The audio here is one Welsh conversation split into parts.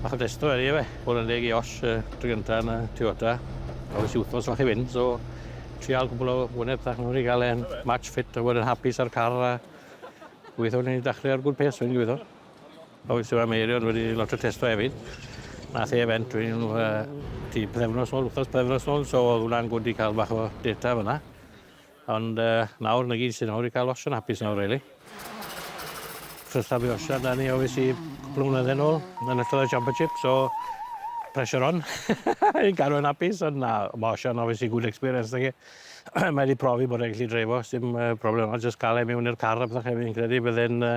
Bach o drysto ydy e, bod yn deg i Osh, y tro gynta yn y Toyota. Oedd e's i wthnos fach i fynd, so trial cwpwl o wyneb fach nawr i ga'l e'n match fit a bod e'n hapus â'r car a gobeithio newn ni dachre ar good pace wedyn gobeithio. A weithiau ma' Meirion wedi lot o testo hefyd. Nath e event wedyn yy tua pythefnos nôl, wthnos pythefnos nôl, so o'dd wnna'n good i ca'l bach o data fan 'na. Ond yy nawr 'na gyd sy nawr i ca'l osian hapus nawr rili. Trysta fi osian 'da ni ofis i cwpwl o flynydde nôl yn ystod y championship so pressure on i gadw e'n apus ond na ma' osian obviously good experience nage? Mae 'di profi bod e'n gallu dreifo sdim yy problema jyst ca'l e miwn i'r car a pethe credu bydde'n yy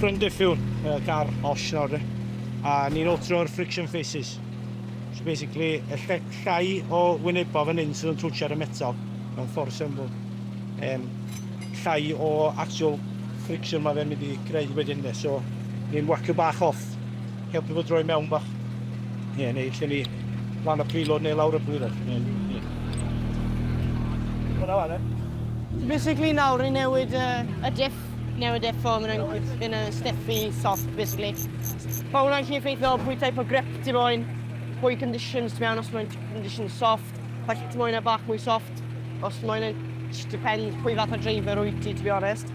Front diffiwn, y car osh nawr de, a ni'n altro'r friction faces. So basically, y lle, llai o wynebau fan hyn sydd yn twtio ar y metal, mewn ffordd syml. Um, llai o actual friction mae fe'n mynd i greu wedyn de, so ni'n wacio bach off. Helpu fo droi mewn bach. Ie, neu lle ni lan y preload neu lawr y preload. Ie, ie. Hwna fan, e? Basically nawr ni'n newid uh, y diff, newid diff o mynd yn, yn y stiff i soft, basically. Mae hwnna'n lle effeithio pwy type o grip ti moyn, pwy conditions ti mewn, os mae'n condition soft, pa ti moyn e bach mwy soft, os mae'n just depend pwy fath o driver wyt ti, to be honest.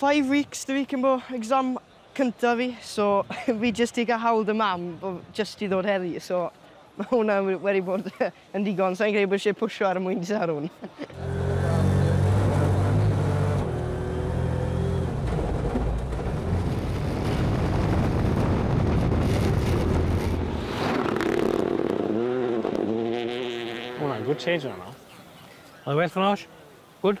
Five weeks the week yn bo exam cynta fi so fi jyst di ga'l hawl 'da mam bo jyst i ddod heddi so ma hwnna we- wedi bod yn digon sai'n credu bo isie pwsio ar y mwyn sarwn. Ma hwnna'n good change yna nawr. Oedd e well than osh? Good?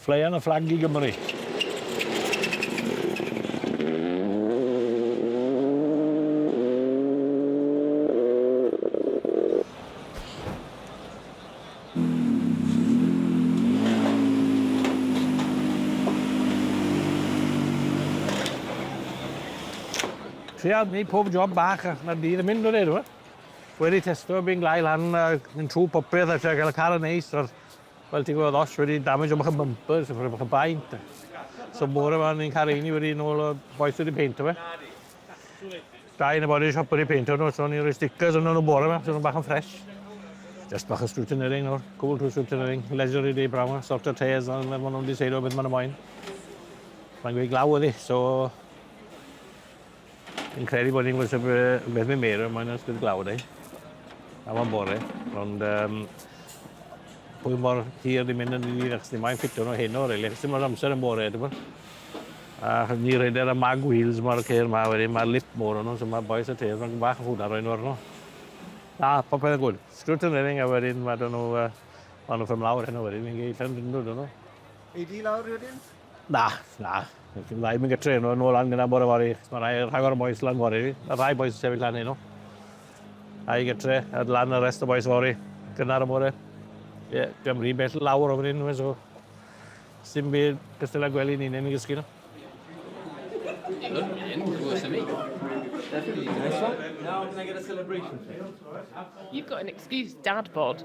Flaean a fflag i Gymru. Tria neud pob job bach a ma'r dydd yn mynd wedyn 'ny t'mod? Wedi testo fi'n gloi lan a mynd trw popeth a trio ga'l y car yn neis a'r Wel ti'n gwybod os wedi damage o'ch bumpers, o'ch chi baint. So bore yma ni'n cael ein wedi yn ôl o boes wedi peintio fe. Da yn y body shop wedi peintio nhw, so ni'n rhoi stickers yn nhw bore yma, so nhw'n bach yn ffres. Just bach o scrutineering nawr, cwbl trwy scrutineering, leisurely day brown, sort o tears, ond maen nhw'n diseidio beth maen nhw'n moyn. Mae'n gweud glaw ydi, so... Fi'n credu bod ni'n gwybod beth mae Meira yn moyn ers bydd glawd ei. Am o'n bore. Ond um, pwy mor hir ni'n mynd yn ni, achos ni mae'n ffitio nhw heno, rili, achos dim ond amser yn bore, dwi'n bod. A ni rhedder y mag wheels mae'r ceir ma wedyn, mae'r lip mor o'n nhw, so mae boes y teir, mae'n bach o hwnna roi'n orno. Na, popeth yn gwrdd. Sgrwt yn rhedeg a wedyn mae dyn nhw, uh, maen nhw ffem lawr heno wedyn, fi'n geid llan dyn nhw, dyn nhw. Ei di lawr wedyn? Na, na. Dim rhaid mynd gytre nhw yn ôl lan gyda bore fori. Mae rhai rhagor o boys lan fori. Mae rhai boys sefyll lan nhw. Ai gytre, a lan y rest o boys fori. Gynnar y bore. Ie, yeah, dim rhi bell lawr o fan hyn, so... Sim byd cystal â gwely ni'n ein gysgu nhw. You've got an excuse, dad bod.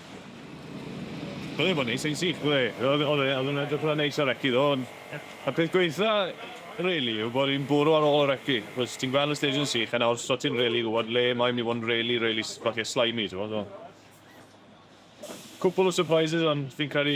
Oedd e'n bod neis, yn sych bod e. Oedd oedd e oedd e'n edrych fatha neis ar reci ddo ond y peth gwaetha rili yw bod hi'n bwrw ar ôl y reci achos ti'n gweld y stêj yn sych a nawr so ti'n rili gwbod le mae myn' i fod yn rili rili s- falle slimy t'mod so cwpwl o sypreises ond fi'n credu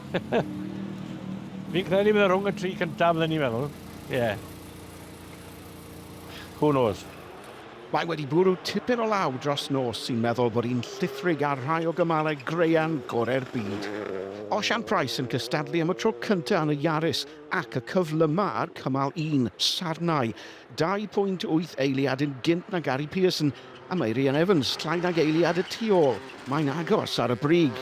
Fi'n credu bydd e rhwng y tri cyntaf fydden ni'n meddwl. Ie. Yeah. Who knows? Mae wedi bwrw tipyn o law dros nos sy'n meddwl bod hi'n llithrig ar rhai o gymalau graean gorau'r byd. Osian Price yn cystadlu am y tro cyntaf yn y Yaris ac y cyflyma ar cymal un, Sarnau. 2.8 eiliad yn gynt na Gary Pearson A mae Rhian Evans, llai nag eiliad y tu ôl. Mae'n agos ar y brig.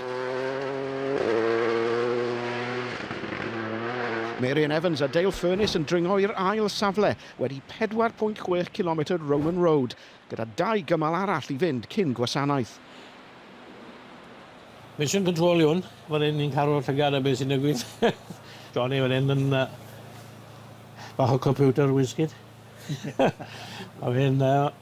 Mae Rhian Evans a Dale Furness yn dringo i'r ail safle wedi 4.6 cilometr Roman Road, gyda dau gymal arall i fynd cyn gwasanaeth. Mission Control yw hwn. Fan hyn ni'n cael llygad ar beth sy'n digwydd. Johnny fan hyn yn bach o computer wizkid. A fi'n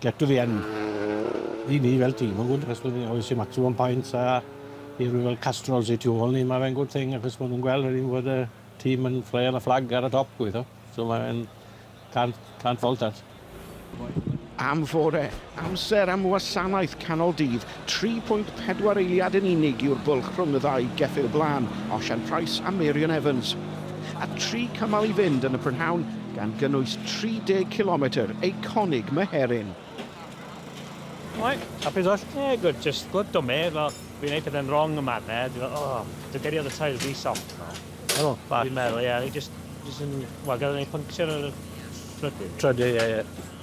Get to the end. I ni fel tîm ma'n good achos bod ni obviously maximum points a i rywun fel Castrol sy tu ôl ni ma' fe'n good thing achos ma' nhw'n gweld wedyn bod y tîm yn ffleio yn y fflag ar y top gobeithio. So ma' fe'n can't can't fault that. Am fore, amser am wasanaeth canol dydd 3.4 eiliad yn unig yw'r bwlch rhwng y ddau geffyl blaen, Osian Price a Marion Evans. A tri cymal i fynd yn y prynhawn, gan gynnwys 30 cilometr eiconig Meherin. Right, happy as well. Yeah, good, just good to me, fel, fi'n neud pethe'n wrong yn man 'na, dwi fel, oh, dwi gyriodd y tail rhy soft fel. Helo, bach. Fi'n meddwl, ie, fi jyst, jyst yn, wel, gafodd e puncture ar y trydydd. Trydydd, ie, ie.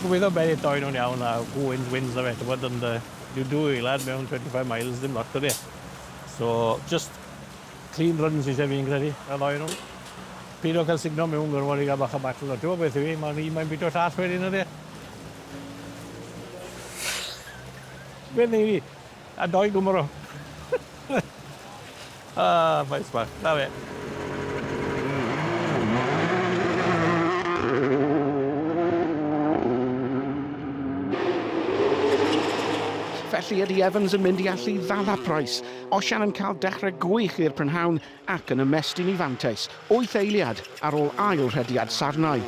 Gobeithio bai eto un o'n iawn a who wins wins on'd yfe t'mod ond yy you do e lad mewn twenty five miles dim lot odi e? So jyst clean run sy isie fi fi'n credu y ddou o nw. Pido ca'l sugno miwn gormod i ga'l bach o battle o t'mo' beth yw 'i ma'n un mae'n bito'r llall wedyn odi e? Be' wnei di? A dou Gymro. A, faes bach. Na fe. Felly, ydy Evans yn mynd i allu ddala Price? Osian yn cael dechrau gwych i'r prynhawn, ac yn ymestyn i fantais wyth eiliad ar ôl ail rhediad sarnau.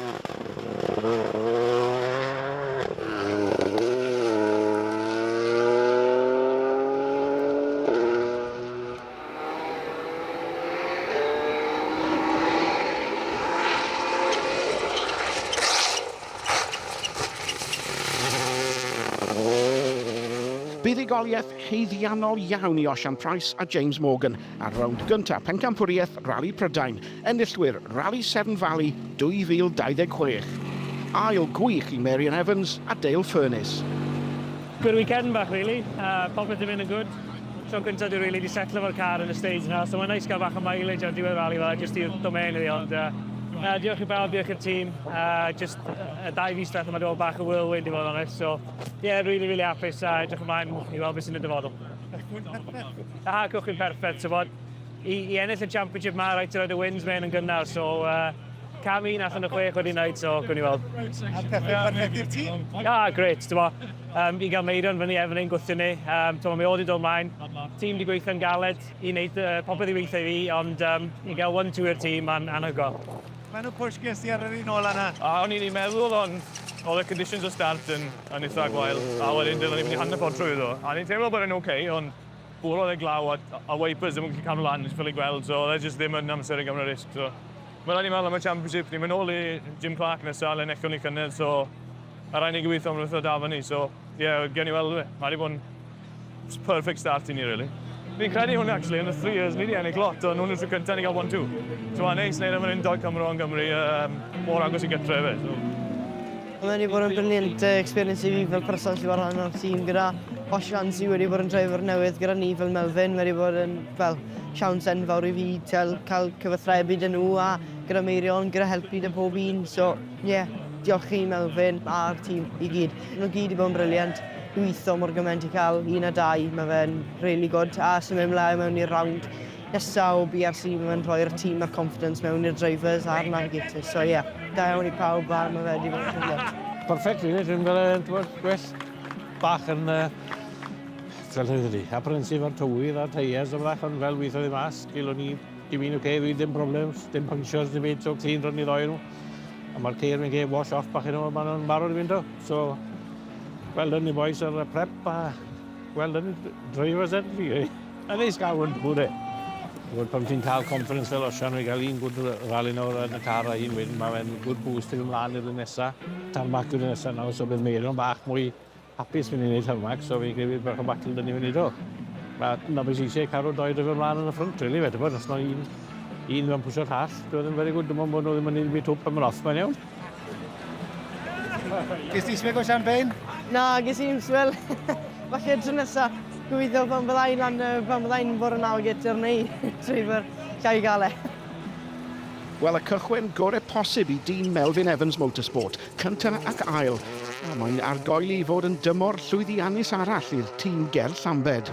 Buddugoliaeth haeddiannol iawn i Osian Price a James Morgan. Ar rownd gyntaf Pencampwriaeth Rali Prydain, enillwyr Rali Severn Valley 2026. Ail gwych i Mary Ann Evans a Dale Furness. Good weekend bach rili, popeth 'di mynd yn gwd, tro cynta dwi rili 'di setlo efo'r car yn y stage 'na, so mae'n neis cael bach o mileage ar diwedd rali fela jyst i'r domain iddi, ond na diolch i bawb, diolch i'r tîm, jyst y dau fis diwetha 'ma 'di bod bach o whirlwind i fod yn onest, so ie rili rili hapus a edrych ymlaen i weld be sy'n y dyfodol. Na, gwych chi'n perffaith, ti'n bod. I, I ennill y championship ma, rhaid ti roed y wins mewn yn gynnar, so uh, cam un allan o chwech wedi wneud, so gwni i weld. A perffaith i'r tîm? Na, gret, ti'n bod. Um, I gael Meirion fyny efo ni'n gwthio ni, um, ti'n bod, mi oedd i dod mlaen. Tîm di gweithio'n galed i wneud uh, popeth i weithio i fi, ond um, i gael one two i'r tîm, mae'n anhygol. Mae'n nhw push ges ti ar yr un ola yna? O'n i'n meddwl, ond all the conditions of start and yn eitha gwael, a wedyn dylen ni fynd i hanner ffordd trwyddo. A ni'n teimlo bod e'n ok, ond bwrodd e glaw a, a wipers ddim yn gallu cadw lan, fel i gweld, so oedd e jyst ddim yn amser i gymryd risg. So, mae rhaid ni meddwl am y Championship, ni'n mynd nôl i Jim Clark nesaf, le wnaethon ni cynnydd, so a rhaid ni gweithio am yr wythnos da fyny, so ie, yeah, gewn ni weld. Mae wedi bod yn It's a perfect start i ni really. Fi'n credu hwn actually, yn y three years ni wedi ennill lot, ond hwn yn tro cyntaf ni gael one two. So a neis neud am yr undod Cymro yn Gymru, um, mor agos i gytre fe. So. Mae wedi bod yn brilliant uh, experience i fi fel person sy'n rhan o'r tîm gyda Osh Fancy wedi bod yn driver newydd gyda ni fel Melvin. Mae wedi bod yn fel siawns enfawr i fi cael cyfathrebu dyn nhw a gyda Meirion, gyda helpu dy pob un. So Ie, diolch chi Melfyn a'r tîm i gyd. Nhw gyd i bod yn brilliant. Gwitho mor gymaint i cael un a dau, mae fe'n really good. A symud mlaen mewn i'r round nesa o BRC, mae fe'n rhoi'r tîm a'r confidence mewn i'r drivers a'r navigators. So ie, da iawn i pawb a mae fe wedi bod yn brilliant. Perfect really, dwi'n gael e'n dweud gwell bach yn uh, fel hyn ydi. Apprehensive ar tywydd a tyres o fach, ond fel weithio ddim mas, gilwn ni, dim un o'r okay, ddim problems, dim punctures, dim byd, so clean run i ddoi nhw. A mae'r ceir yn cael wash off bach yn ôl, maen nhw'n barod i fynd o. So, well done you boys ar y prep a well done drivers ed fi. A neis gael hwn bwyd e. Gwyd pam ti'n cael conference fel osian i gael un gwyd rali nawr yn y car a un wedyn, mae fe'n gwyd boost i fi mlaen i'r nesaf. Tarmac i'r nesaf nawr, so bydd meirion bach mwy Hapus fi'n ennill hwn Max, so fi'n credu bydd bach o battle dyn ni fyny do. Mae Nobis eisiau cael doi drefyn mlaen yn y ffrwnt, really, fe, tybod, os mae un, un mewn pwysio'r llall, doedd yn very good, dim ond bod nhw ddim yn un byd twp am yr off, mae'n iawn. Ges ti smeg o champagne? Na, ges i'n swel. Falle tro nesa, gobeithio pan byddai lan, pan byddai'n bod yn awr gyda'r neu trwy'r llai gael e. Wel, y cychwyn gorau posib i dîm Melvin Evans Motorsport. Cyntaf ac ail, a mae'n argoeli i fod yn dymor llwyddiannus arall i'r tîm ger Llambed.